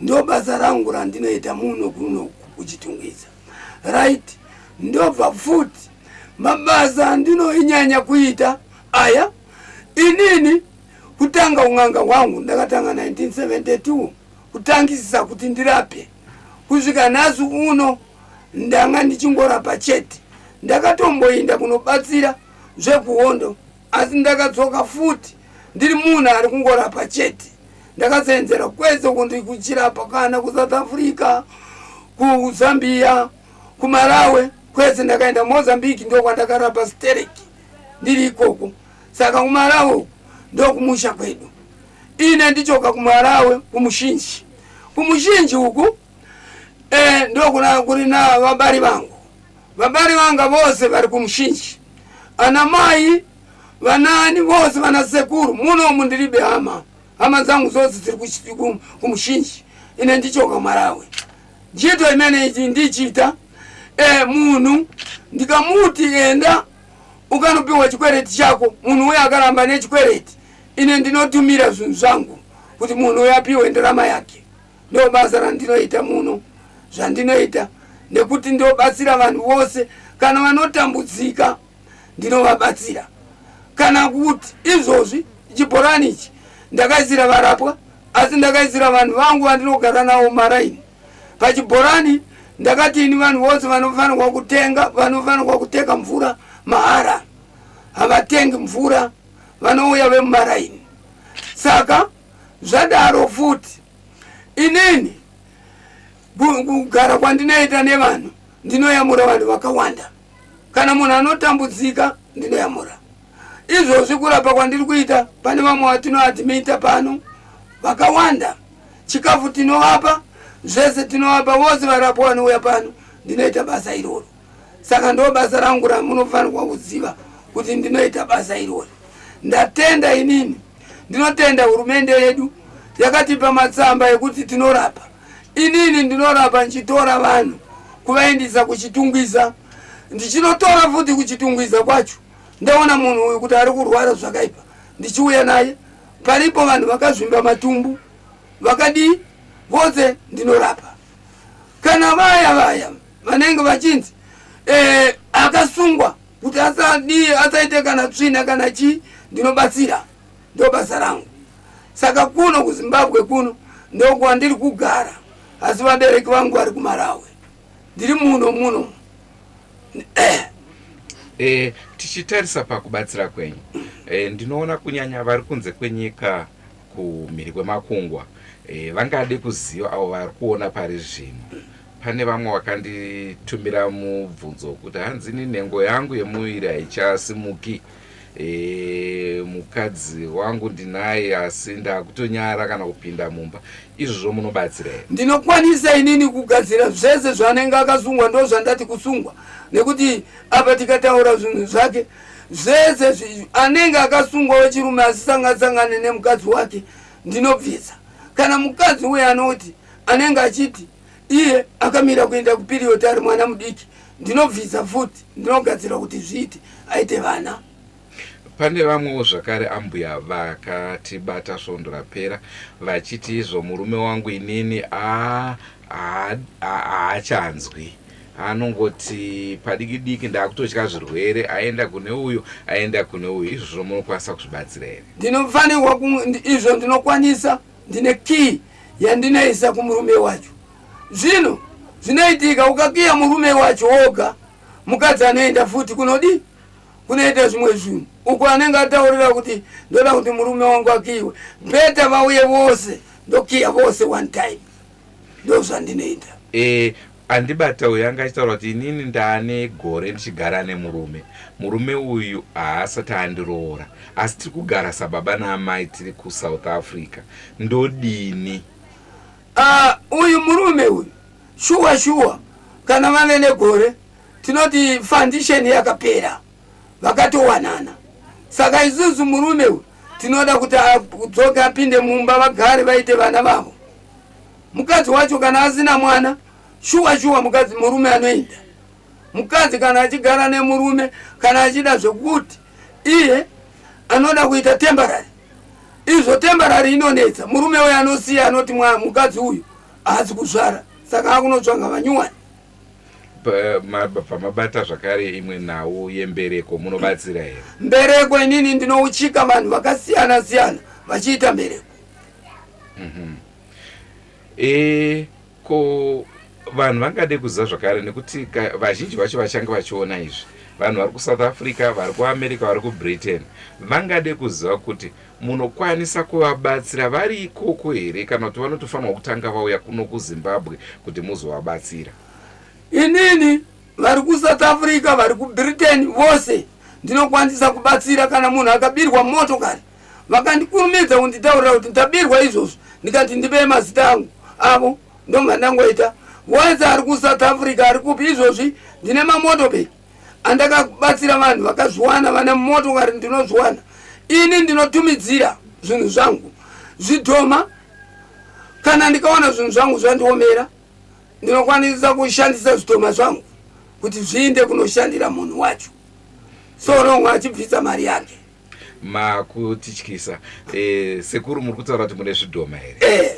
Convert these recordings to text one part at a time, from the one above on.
ndo basa rangu randinoita muno kuno kuchitungwiza right ndobva futi mabasa andinoinyanya kuita aya inini kutanga un'anga hwangu ndakatanga 1972 kutangisisa kuti ndirape kusvika nhasi uno ndanga ndichingorapa chete ndakatomboinda kunobatsira zvekuhondo asi ndakadzoka futi ndiri munhu ari kungorapa chete ndakaseenzera kwese kundi kuchirapa kana kusouth africa kuzambia kumarawe kwese ndakaenda mozambique ndokwandakarapa sterek ndiri ikoko saka kumarawe uku ndokumusha kwedu ine ndichoka kumarawe kumushinji kumushinji uku e, ndokuna kuri na vabari vangu vabari vanga vose vari kumushinji ana mai vanani vose vana sekuru munomu ndiribe hama hama dzangu zose dziri kumushinji ine ndichoka marawi njito imene ichi ndichita e, munhu ndikamuti enda ukanopiwa chikwereti chako munhu uye akaramba nechikwereti ine ndinotumira zvinhu zvangu kuti munhu uye apiwe ndarama yake Ndo basa randinoita muno, zvandinoita nekuti ndobatsira vanhu vose kana vanotambudzika ndinovabatsira kana kuti izvozvi chibhorani ichi ndakaisira varapwa asi ndakaisira vanhu vangu vandinogara nawo maraini pachibhorani ndakati ini vanhu vose vanofanirwa kutenga vanofanirwa kuteka mvura mahara havatengi mvura vanouya vemumaraini saka zvadaro futi inini kugara kwandinoita nevanhu ndinoyamura vanhu vakawanda kana munhu anotambudzika ndinoyamura izvozvi kurapa kwandiri kuita pane vamwe vatinoadmita pano vakawanda chikafu tinovapa zvese tinovapa vose varapwa vanouya pano ndinoita basa iroro saka ndo basa rangu ramunofanirwa kuziva kuti ndinoita basa irori ndatenda inini ndinotenda hurumende yedu yakatipa matsamba ekuti tinorapa inini ndinorapa ndichitora vanhu kuvaendisa kuchitungwiza ndichinotora futi kuchitungwiza kwacho ndaona munhu uyu kuti ari kurwara zvakaipa ndichiuya naye paripo vanhu vakazvimba matumbu vakadii vose ndinorapa kana vaya vaya vanenge vachinzi eh, akasungwa kuti asadii asaite kana tsvina kana chii ndinobatsira ndo basa rangu saka kuno kuzimbabwe kuno ndokwandiri kugara asi vabereki vangu vari kumarawe ndiri muno muno eh. Eh, tichitarisa pakubatsira kwenyu eh, ndinoona kunyanya vari kunze kwenyika kumhiri kwemakungwa e, vangade kuziva avo vari kuona pari zvino pane vamwe vakanditumira mubvunzo wekuti hanzi ni nhengo yangu yemuviri haichasimuki e, mukadzi wangu ndinaye asi ndakutonyara kana kupinda mumba izvozvo munobatsira here ndinokwanisa inini kugadzira zvese zvaanenge akasungwa ndo zvandati kusungwa nekuti apa tikataura zvinhu zvake zvese zvi anenge akasungwa wechirume asisangasangane nemukadzi wake ndinobvisa kana mukadzi uye anoti anenge achiti iye akamira kuenda kupiriyoti ari mwana mudiki ndinobvisa futi ndinogadzira kuti zviite aite vana pane vamwewo zvakare ambuya vakatibata svondo rapera vachiti izvo murume wangu inini aa ah, haachanzwi anongoti padiki diki ndakutotya zvirwere aenda kune uyu aenda kune uyu izvozvo munokwanisa kuzvibatsira here ndinofanirwa izvo ndinokwanisa ndine kii yandinoisa kumurume wacho zvino zvinoitika ukakiya murume wacho woga mukadzi anoenda futi kunodii kunoita zvimwe zvinhu uko anenge ataurira kuti ndoda kuti murume wangu akiiwe beta vauye vose ndokiya vose one time ndozvandinoita eh, andibata uyu anga achitaura kuti inini ndaane gore ndichigara nemurume murume uyu haasati andiroora asi tiri kugara sababa naamai tiri kusouth africa ndodini ah, uyu murume uyu shuwa shuwa kana vane negore tinoti foundation yakapera vakatowanana saka isusu murume uyu tinoda kuti adzoke apinde mumba vagare vaite vana vavo mukadzi wacho kana asina mwana shuwa shuwa mukadzi murume anoenda mukadzi kana achigara nemurume kana achida zvekuti iye anoda kuita tembarari izvo tembarari inonetsa murume uyo anosiya anoti mukadzi uyu haasi kuzvara saka akunotsvanga vanyuwani pamabata zvakare imwe nhau yembereko munobatsira here mbereko inini ndinouchika vanhu vakasiyana siyana vachiita mbereko mhm. e, ko vanhu vangade kuziva zvakare nekuti vazhinji vacho vachange vachiona izvi vanhu vari kusouth africa vari kuamerica vari kubritain vangade kuziva kuti Munokwanisa kuvabatsira vari ikoko here kana kuti vanotofanirwa kutanga vauya kuno kuZimbabwe kuti muzovabatsira? Inini vari kuSouth Africa, vari kuBritain vose ndinokwanisa kubatsira. Kana munhu akabirwa motokari vakandikurumidza kunditaurira kuti ndabirwa izvozvo ndikati ndibee mazita angu avo ndomva ndangoita. Wese ari kuSouth Africa ari kupi izvozvi ndine mamotobeki andakabatsira vanhu vakazviwana vane motokari ndinozviwana ini ndinotumidzira zvinhu zvangu zvidhoma kana ndikaona zvinhu zvangu zvandiomera ndinokwanisa kushandisa zvidhoma zvangu kuti zviinde kunoshandira munhu wacho so longwa achibvisa mari yake makutityisa eh, sekuru muri kutaura kuti mune zvidhoma here eh,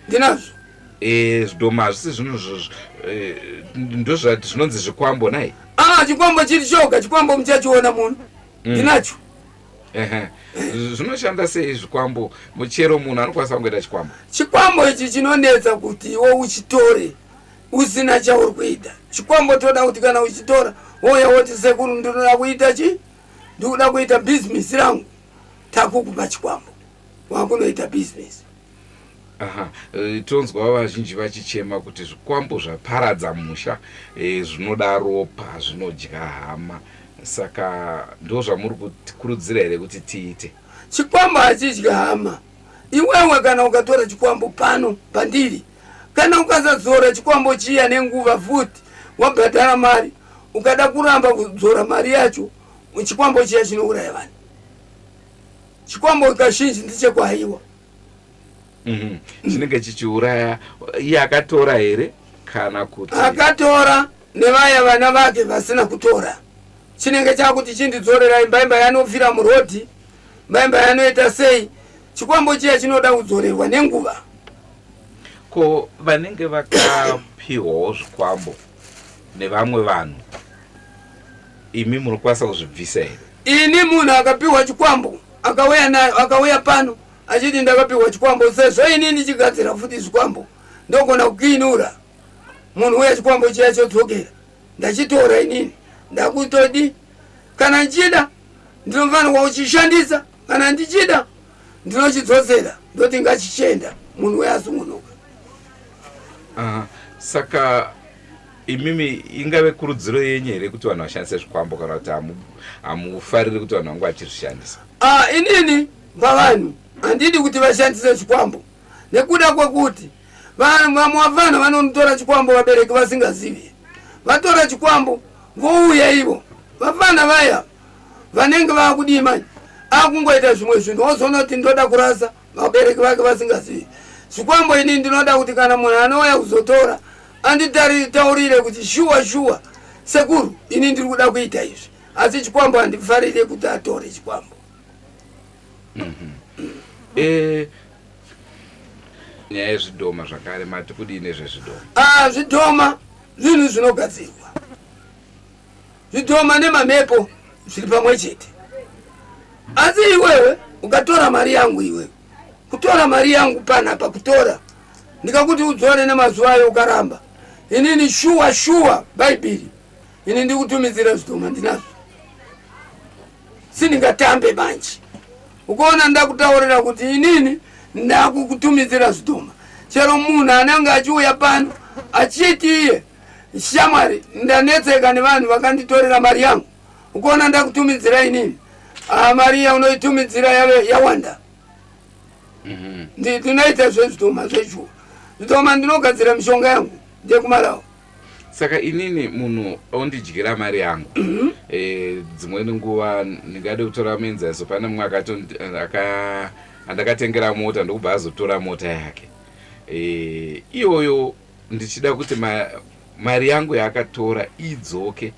ndinazvo eh, zvidhoma hazvisi zvinhu eh, ndozvati zvinonzi zvikwambo nai ah, chikwambo chiri choga chikwambo muchachiona muno mm. ndinacho zvinoshanda sei zvikwambo muchero munhu anokwanisa kungoita chikwambo chikwambo ichi chinonetsa kuti iwe uchitore usina chauri kuita chikwambo toda kuti kana uchitora woya woti sekuru ndinoda kuita chii ndikuda kuita bhizinesi rangu takukupa chikwambo wakunoita bhizinesi aha e, tonzwa vazhinji vachichema kuti zvikwambo zvaparadza musha e, zvinoda ropa zvinodya hama saka ndo zvamuri kutikurudzira here kuti tiite chikwambo hachidya hama iwewe kana ukatora chikwambo pano pandiri Kana ukasadzora chikwambo chiya nenguva futi wabhadhara mari, ukada kuramba kudzora mari yacho, chikwambo chiya chinouraya vanhu. Chikwambo kazhinji ndichekwaiwa. Mhm. chinenge chichiuraya iye akatora here kana kuti akatora nevaya vana vake vasina kutora chinenge chakuti chindidzorerai mbaimba yanofira murodhi mbaimba yanoita sei chikwambo chiya chinoda kudzorerwa nenguva Ko vanenge vakapihwawo zvikwambo nevamwe vanhu imi munokwanisa kuzvibvisa here? Ini munhu akapihwa chikwambo akauya nayo akauya pano achiti ndakapihwa chikwambo sezvo ini ndichigadzira futi zvikwambo ndogona kukiinura munhu uya chikwambo chiya chodzokera ndachitora inini ndakutodi kana ndichida ndinofanirwa kuchishandisa kana ndichida ndinochidzosera ndoti ngachichenda munhu uye asungunuka uh, saka imimi ingave kurudziro yenyu here kuti vanhu vashandise zvikwambo kana kuti hamufariri kuti vanhu vangu vachizvishandisa uh, inini pavanhu handidi kuti vashandise chikwambo nekuda kwekuti vamwe vana vanotora chikwambo vabereki vasingazivi vatora chikwambo vouya ivo vafana vaya vanenge vakudii manje akungoita zvimwe zvinhu wozoona kuti ndoda kurasa vabereki vake vasingazivi zvikwambo ini ndinoda kuti kana munhu anouya kuzotora anditaurire kuti shuwa shuwa sekuru ini ndiri kuda kuita izvi asi chikwambo handifarire kuti atore chikwambo mhm. eh, nyaya yezvidhoma zvakare mati kudii nezvezvidhoma ah, zvidhoma zvinhu zvinogadzirwa zvidhoma nemamepo zviri pamwe chete asi iwewe ukatora mari yangu iwewe kutora mari yangu panapa kutora ndikakuti udzore nemazuva ayo ukaramba inini shuwa shuwa bhaibheri ini ndikutumidzira zvidhoma ndinazvo sindingatambe manje ukaona ndakutaurira kuti inini ndakukutumidzira zvidhoma chero munhu anenge achiuya pano achiti iye Shamwari, ndanetseka nevanhu vakanditorera mari yangu. Ukuona ndakutumidzira inini. Ah, mari yaunoitumidzira yave yawanda. Mhm. Ndi- Ndinoita zvezvitoma zvechuo. Zvitoma ndinogadzira mishonga yangu ndekumarawa. saka inini munhu ondidyira mari yangu Mhm. Eh, dzimweni nguva ndingade kutora muenzaniso pane mumwe akatondi- eh, aka- andakatengera mota ndokubva azotora mota yake Eh, iyoyo ndichida kuti ma, mari yangu yaakatora idzoke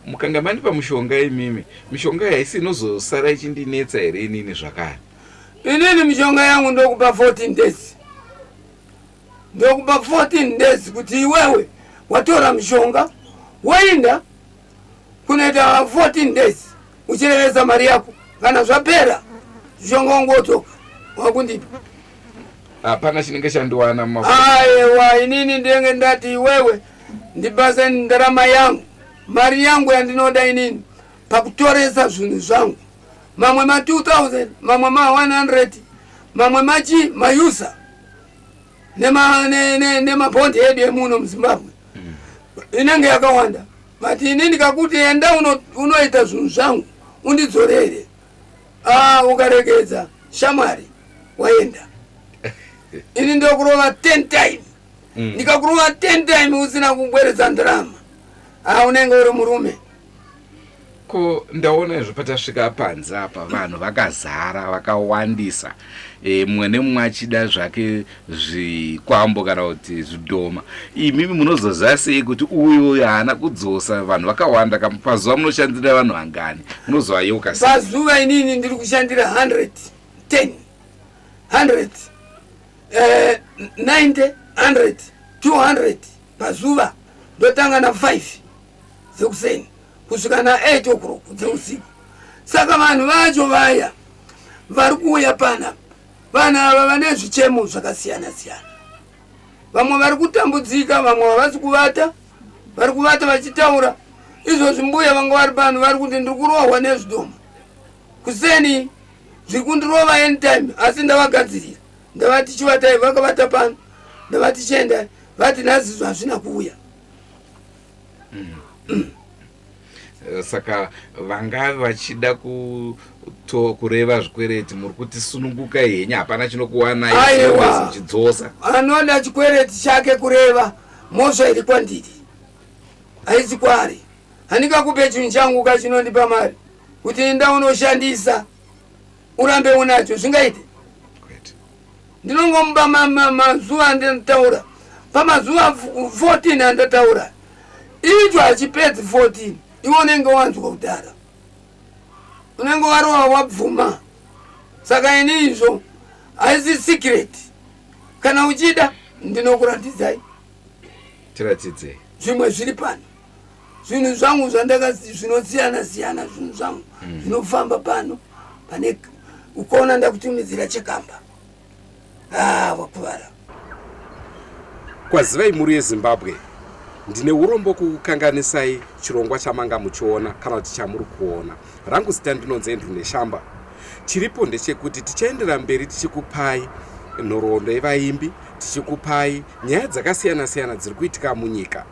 mukanga mandipa mushonga imimi mishonga haisi inozosara ichindinetsa here inini zvakare inini mishonga yangu ndokupa 14 days ndokupa 14 days kuti iwewe watora mishonga woinda kunoita 14 days uchirevesa mari yako kana zvapera zvongongotoka wakundipa hapana chinenge chandiwana aewa inini ndenge ndati iwewe ndibasa ndarama yangu mari yangu yandinoda inini pakutoresa zvinhu zvangu mamwe ma 2000 mamwe ma 100 mamwe machi mayusa nemabhondi ne, ne, ne edu emuno muzimbabwe mm. inenge yakawanda but ini ndikakuti enda unoita uno zvinhu zvangu undidzorere ah, ukaregedza shamwari waenda ini ndokurova 10 time mm. ndikakurova 10 time usina kubweredza ndirama ah, unenge uri murume ko ndaona izvo patasvika panze apa vanhu vakazara vakawandisa e, mumwe nemumwe achida zvake zvikwambo kana kuti zvidhoma imimi munozoziva sei kuti uyu uyu haana kudzosa vanhu vakawanda ka pazuva munoshandira vanhu vangani munozovayeuka sei pazuva inini ndiri kushandira 110 100 eh, 90 100 200 pazuva ndotanga na 5 dzekuseni kusvika na 8 o'clock dzeusiku saka vanhu vacho vaya vari kuuya pana vanhu ava vane zvichemo zvakasiyana siyana vamwe vari kutambudzika vamwe havasi kuvata vari kuvata vachitaura izvozvi mbuya vanga vari pano vari kuti ndiri kurohwa nezvidomo kuseni zviri kundirova anytime asi ndavagadzirira ndavati chivatai vakavata pano ndavati chiendai vati nhazizvo hazvina kuuya Eh, saka vangave vachida kuto kureva zvikwereti muri kuti sununguka henyu hapana chinokuwanaichidzosa anoda chikwereti chake kureva mhosva iri kwandiri haisi kwaari handingakupe chinhu changu ka chinondipa mari kuti ndaunoshandisa urambe unacho zvingaite ndinongomupa mazuva andinotaura pamazuva 14 andataura icho hachipedzi 14 iwe unenge wanzwa kudhara unenge warova wabvuma saka ini izvo haisi secret kana uchida ndinokuratidzai tiratidzei zvimwe zviri pano zvinhu zvangu zvandaka zvinosiyana siyana zvinhu zvangu mm. zvinofamba pano pane ukaona ndakutumidzira chekamba ah, wakuvara kwazivai mhuri yezimbabwe ndine urombo kukukanganisai chirongwa chamanga muchiona kana kuti chamuri kuona rangu zita ndinonzi andrew neshamba chiripo ndechekuti tichaendera mberi tichikupai nhoroondo yevaimbi tichikupai nyaya dzakasiyana siyana dziri kuitika munyika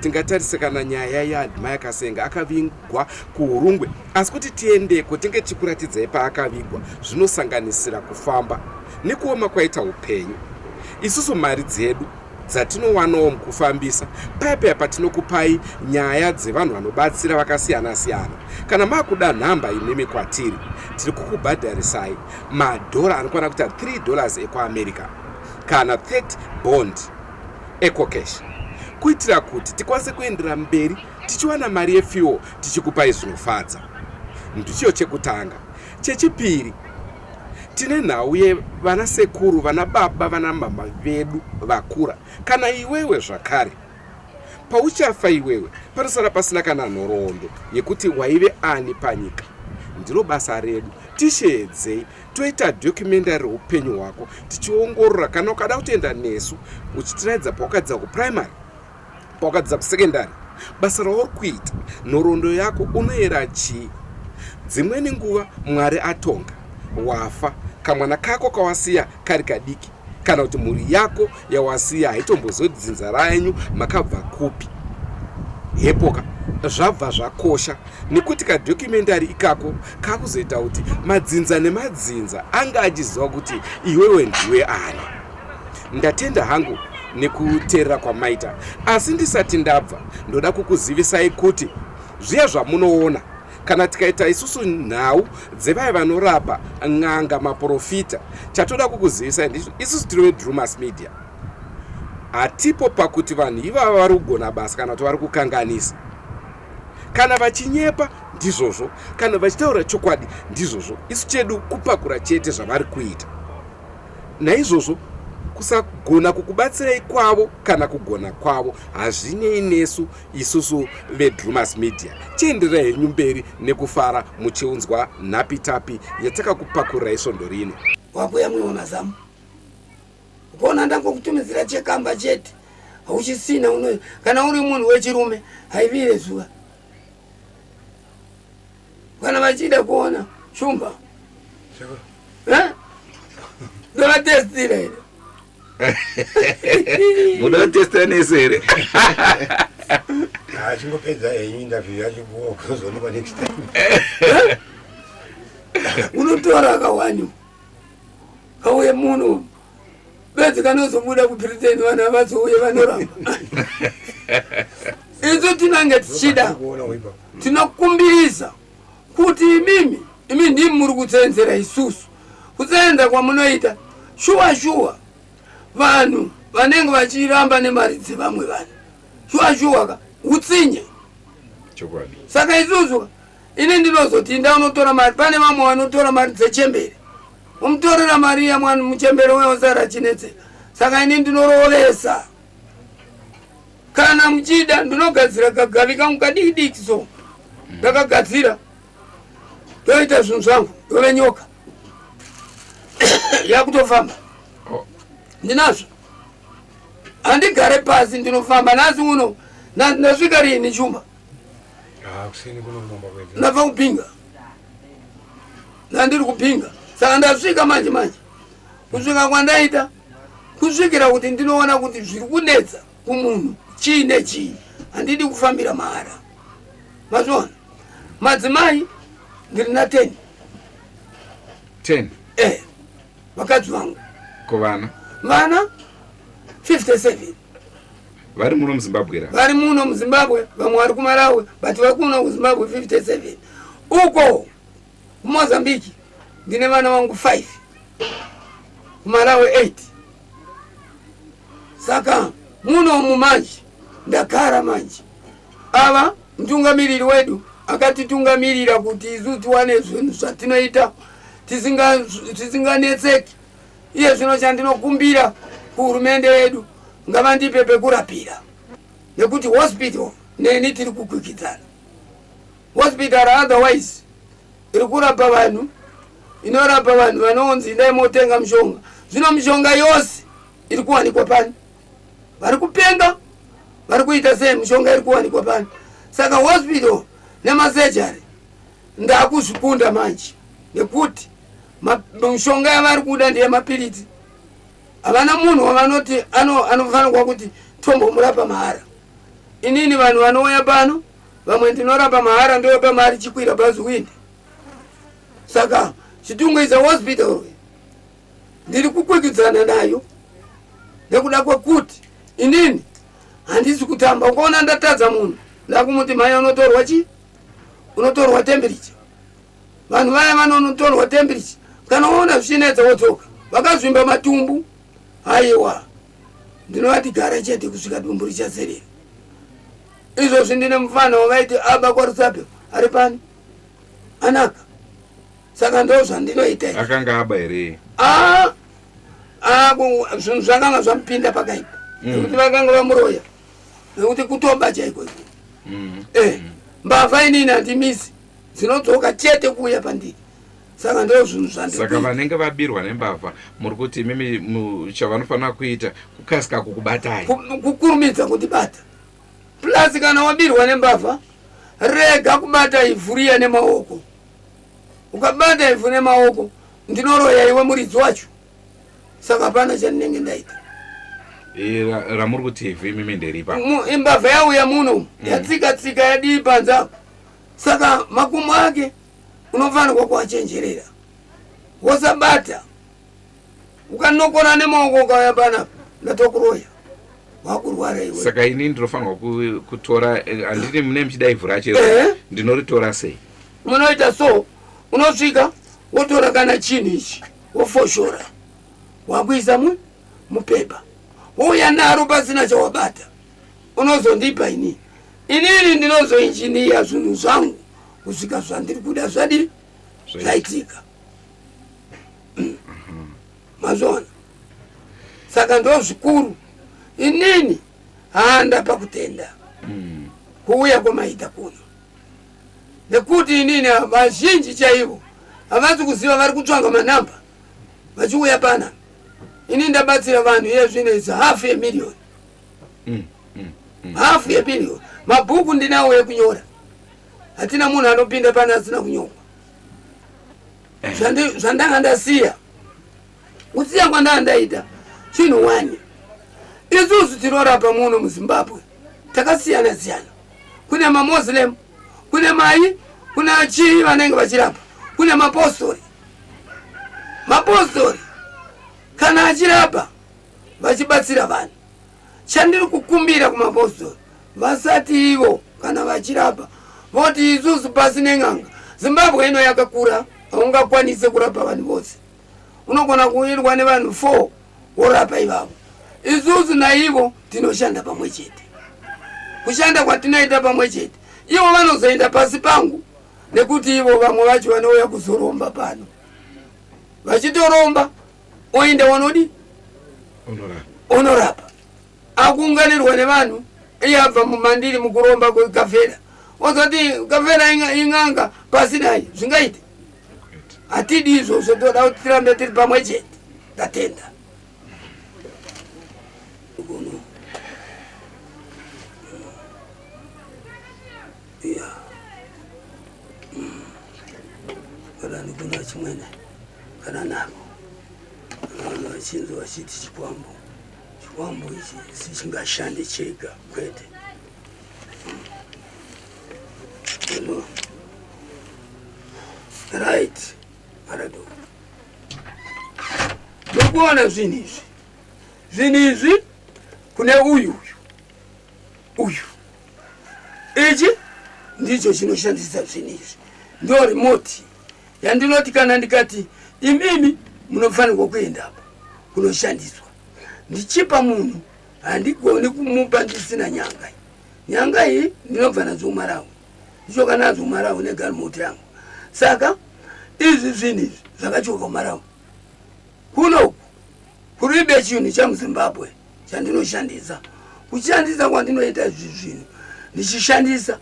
tingatarisa kana nyaya yaadmire kasenga akavigwa kuhurungwe asi kuti tiendeko tinge tichikuratidzai paakavigwa zvinosanganisira kufamba nekuoma kwaita upenyu isusu mari dzedu dzatinowanawo mukufambisa paipeya patinokupai nyaya dzevanhu vanobatsira vakasiyana siyana kana makuda nhamba imimi kwatiri tiri kukubhadharisai madhora anokwana kuita 3 dollars ekuamerica kana 30 bond ecocash kuitira kuti tikwanise kuendera mberi tichiwana mari yefuel tichikupai zvinofadza ndicho chekutanga chechipiri tine nhau yevana sekuru vana baba vana mama vedu vakura kana iwewe zvakare pauchafa iwewe panosara pasina kana nhoroondo yekuti waive ani panyika ndiro basa redu tisheedzei toita documentary reupenyu hwako tichiongorora kana ukada kutoenda nesu uchitiraidza pawakadzidza kuprimary pawakadzidza kusecondary basa rauri kuita nhoroondo yako unoyera chii dzimweni nguva mwari atonga wafa kamwana kako kawasiya kari kadiki kana kuti mhuri yako yawasiya haitombozoi kuti dzinza renyu makabva kupi hepoka zvabva zvakosha nekuti kadokumentary ikako kakuzoita kuti madzinza nemadzinza anga achiziva kuti iwewe ndiwe ani ndatenda hangu nekuteerera kwamaita asi ndisati ndabva ndoda kukuzivisai kuti zviya zvamunoona Kana tikaita isusu nhau dzevaya vanorapa, n'anga, maporofita, chatoda kukuzivisai ndicho isusu tiri veDrewmas Media hatipo pakuti vanhu ivava vari kugona basa kana kuti vari kukanganisa. Kana vachinyepa ndizvozvo, kana vachitaura chokwadi ndizvozvo, isu chedu kupakura chete zvavari kuita. Naizvozvo kusagona kukubatsirai kwavo kana kugona kwavo hazvinei nesu Isusu veDrewmas Media chienderai henyu mberi nekufara muchiunzwa nhapitapi yatakakupakurirai svondo rino. Wakuya mumwe wemazamu kuona ndangokutumidzira chekamba chete hauchisina uno kana uri munhu wechirume haivire zuva kana vachida kuona shumba ndovatestira here muda testa nese here achingopedza ah, henyu interview yacho kuzoonekwa next time unotora kawani kauye muno bedzi kanozobuda kubritain vanhu avazouye vanoramba isu tinange tichida tinokumbiriza kuti imimi imi ndimi muri kutsenzera isusu kutsenza kwamunoita shuwa shuwa vanhu vanenge vachiramba nemari dzevamwe vanhu shuwa shuwa ka utsinye saka isusu ini ndinozoti inda unotora mari pane vamwe vanotora mari dzechembere omutorera mari yamwana muchembere weosara chinetseka saka ini ndinorovesa kana muchida ndinogadzira kagavi kangu kadikidiki so ndakagadzira ndoita zvinhu zvangu ndove nyoka yakutofamba oh. ndinazvo handigare pasi ndinofamba nhasi uno ndasvika rini chumba ah, ndabva kupinga ndandiri kupinga saka ndasvika manje manje kusvika kwandaita kusvikira kuti ndinoona kuti zviri kunetsa kumunhu chii nechii handidi kufambira mahara mazviona madzimai ndiri na ten ten eh vakadzi vangu ko vana vana 57 vari muno muzimbabwe ra vari muno muzimbabwe vamwe vari kumalawi but vari kuno kuzimbabwe 57 uko Kumozambique ndine vana vangu 5 kumalawi 8 saka muno umu manje ndagara manje ava mtungamiriri wedu akatitungamirira kuti isu tiwane zvinhu zvatinoita tisinganetseki iye zvino chandinokumbira kuhurumende yedu ngavandipe pekurapira nekuti hospital neni tiri kukwikwidzana Hospital otherwise iri kurapa vanhu inorapa vanhu vanonzi idai motenga mushonga zvino mushonga yose iri kuwanikwa pani vari kupenga vari kuita sei mushonga iri kuwanikwa pani saka hospital nemasejari ndakuzvikunda manje nekuti mushonga yavari kuda ndiye mapiritsi havana munhu wavanoti anofanirwa kuti tombomurapa mahara inini vanhu vanouya pano vamwe ndinorapa mahara ndovapa mari chikwira bhazi windi saka chitungu is a hospital ndiri kukwikidzana nayo nekuda kwekuti inini handisi kutamba ukaona ndatadza munhu ndakumuti mhai unotorwa chii unotorwa tembiricha vanhu vaya vanonotorwa tembiricha kana waona zvichinetsa wodzoka vakazvimba matumbu haiwa ndinovatigara chete kusvika dumbu richazerera izvozvi ndine mufana wavaiti aba kwarusape ari pani anaka saka ndo zvandinoita akanga aba here ah, ah, zvinhu zvakanga zvamupinda pakaipa mm. nekuti vakanga vamuroya nekuti kutoba chaiko iko mm. eh, mm. mbavha inini handimisi dzinodzoka chete kuuya pandiri saka ndo zvinhu zvandisaka vanenge vabirwa nembavha muri kuti imimi chavanofanira kuita kukasika kukubatai kukurumidza kundibata plus kana wabirwa nembavha rega kubata ivhu riya nemaoko ukabata ivhu nemaoko ndinoroya iwe muridzi wacho saka hapana chandinenge ndaita ramuri kuti ivhu imimi nderipa imbavha yauya muno mm. yatsika tsika yadii panze apo saka makumo ake unofanirwa kuachenjerera wosabata ukanokona nemaoko ukauya panapa ndatokuroya wakurwara iwe saka ini ndinofanirwa kutora eh, handiti mune muchida ivhu racho eh? ndinoritora sei munoita so unosvika wotora kana chinhu ichi wofoshora wakuisa mu mupepa wouya naro pasina chawabata unozondipa inini inini ndinozoinjiniya zvinhu zvangu kusvika zvandiri kuda zvadii zvaitika mazviona saka ndo zvikuru inini handa pakutenda mm. kuuya kwamaita kuno nekuti inini vazhinji chaivo havazi kuziva vari kutsvanga manamba vachiuya pana ini ndabatsira vanhu iye zvino is half a million mm, mm, mm. half a million mabhuku ndinawo ekunyora hatina munhu anopinda pane asina kunyorwa eh. zvandanga ndasiya kusiya kwandanga ndaita chinhu wani isusu tinorapa muno muzimbabwe takasiyana siyana kune mamoslem kune mai kuna chii vanenge vachirapa kune mapostori mapostori kana achirapa vachibatsira vanhu Chandiri kukumbira kumapostori vasati ivo kana vachirapa voti isusu pasi nen'anga zimbabwe ino yakakura haungakwanise kurapa vanhu vose unogona kuwirwa nevanhu four worapa ivavo isusu naivo tinoshanda pamwe chete kushanda kwatinoita pamwe chete ivo vanozoenda pasi pangu nekuti ivo vamwe vacho vanouya kuzoromba pano vachitoromba oenda wanodi onorapa akuunganirwa nevanhu iye abva mumandiri mukuromba kwekavhera wazoti kavhera ing'anga pasi nayo zvingaite hatidi izvozvo toda kuti tirambe tiri pamwe chete ndatenda yeah. varani kuna chimwene varanako vanhu vachinzi vachiti chikwambo chikwambo ichi sichingashande chega kwete Hello. right parado ndokuona zvinhu izvi zvinhu izvi kune uyu uyu uyu ichi ndicho chinoshandisa zvinhu izvi ndo remote yandinoti kana ndikati imimi munofanirwa kuenda apa kunoshandiswa ndichipa munhu handigoni kumupa ndisina nyanga iyi nyanga iyi ndinobva nadzo kumarawi ndichoka nadzo kumarawi negarimote yangu saka izvi zvinhu izvi zvakachoka kumarawi Kuno kuribe chinhu chamuzimbabwe chandinoshandisa kushandisa kwandinoita izvi zvinhu ndichishandisa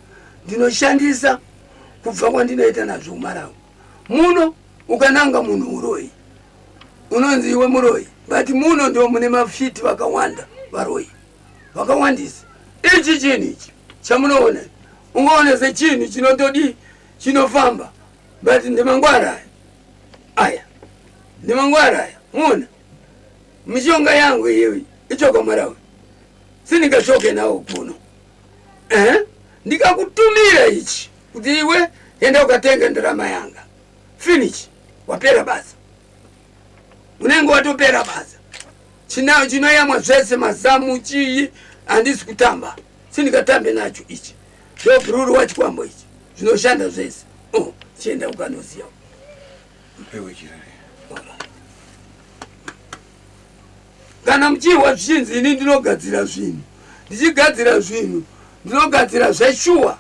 ndinoshandisa kubva kwandinoita nazvo kumarawi muno ukananga munhu uroyi unonzi iwe muroyi but muno ndo mune mafiti vakawanda varoyi vakawandisa ichi chinhu ichi chamunoona ungaona sechinhu chinotodii chinofamba but ndimangwara aya aya ndi mangwara aya muona mishonga yangu iyoyi ichokomarawe sindingashoke nawo kuno eh? ndikakutumira ichi kuti iwe enda ukatenga ndarama yanga finish wapera basa unenge watopera basa chinayo chinoyamwa zvese mazamu chii handisi kutamba sindikatambe nacho ichi Ndobhururuwa chikwambo ichi zvinoshanda zvese oh, chienda ukanoziya kana muchihwa zvichinzi ini ndinogadzira zvinhu ndichigadzira zvinhu ndinogadzira zveshuwa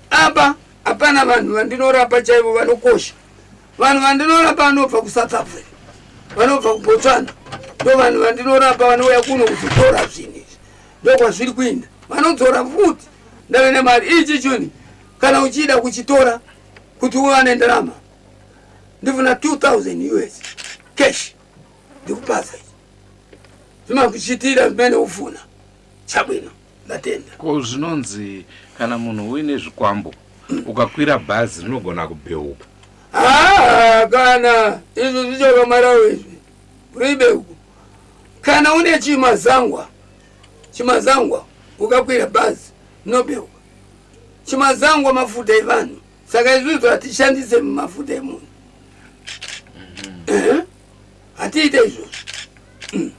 apa hapana vanhu vandinorapa chaivo vanokosha vanhu vandinorapa vanobva kusouth africa vanobva kubotswana ndo vanhu vandinorapa vanouya kuno kuzotora zvinhu ndokwazviri kuenda vanodzora futi ndave nemari ichi chuni kana uchida kuchitora kuti uwane ndarama ndifuna 2000 us cash ndikupasa ichi zvimakuchitira zimene ufuna chabwino ndatenda ko zvinonzi kana munhu uine zvikwambo ukakwira bhazi rinogona kubheuka haa kana izvo zvichokamarawo izvi Ribe uko. Kana une chimazangwa, chimazangwa ukakwira bhazi nobewa. Chimazangwa mafuta evanhu. Saka izvizvi hatishandise mafuta emunhu. Ehe. Hatiite izvozvo.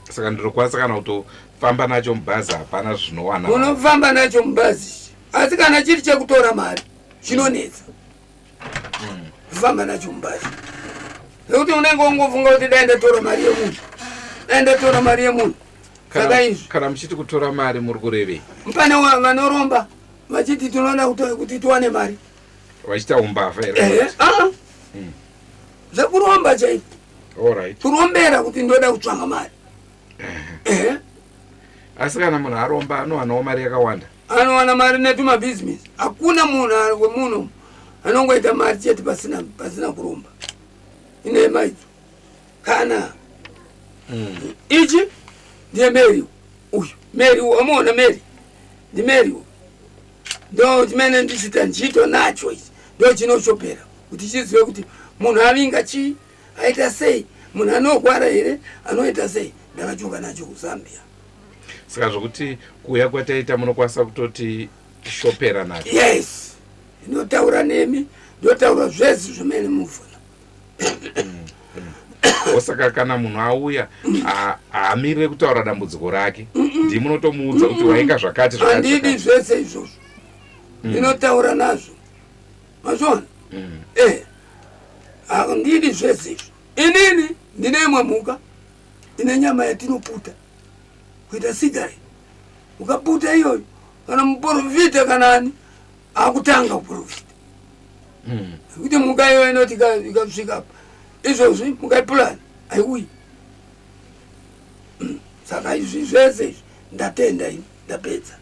saka ndinokwanisa kana kutofamba nacho mubhazi hapana zvinowana vanhu. Unofamba nacho mubhazi ichi. Asi kana chiri chekutora mari chinonetsa. famba nacho mubhazi nekuti unenge ungofunga kuti dai ndatora mari yemunhu dai ndatora mari yemunhu saka izvi kana muchiti kutora mari muri kurevei pane vanoromba vachiti tinoda kuti tiwane mari vachiita umbavha here ah. hmm. zvekuromba chaiko kurombera kuti ndoda kutsvanga mari asi kana munhu aromba anowanawo mari yakawanda anowana mari netumabhizinesi hakuna munhu wemuno anongoita mari chete pasina pasina kuromba inema idzo kana mm. ichi ndiye meri uyu meri uyu amuona meri ndi meri uyu ndo chimene ndichita ndichiitwa nacho ichi ndo chinoshopera kuti chizive kuti munhu avinga chii aita sei munhu anorwara here anoita sei ndakachoka nacho kuzambia saka zvokuti kuuya kwataita munokwanisa kutoti shopera nacho yes inotaura nemi ndotaura zvese zvimene mufuna osaka kana munhu auya haamirire kutaura dambudziko rake ndi munotomuudza kuti wainga zvakati zvakati andidi zvese izvozvo ndinotaura nazvo mazviona mm. eh handidi zvese izvo inini ndine imwe mhuka ine nyama yatinoputa kuita sigari ukaputa iyoyo kana muporofita kana ani akutanga kuporofita hmm. kuti mhuka iyoyo inoti ikasvika apa izvozvi mukaipulani haiuyi hmm. saka izvi zvese izvi ndatenda ini ndapedza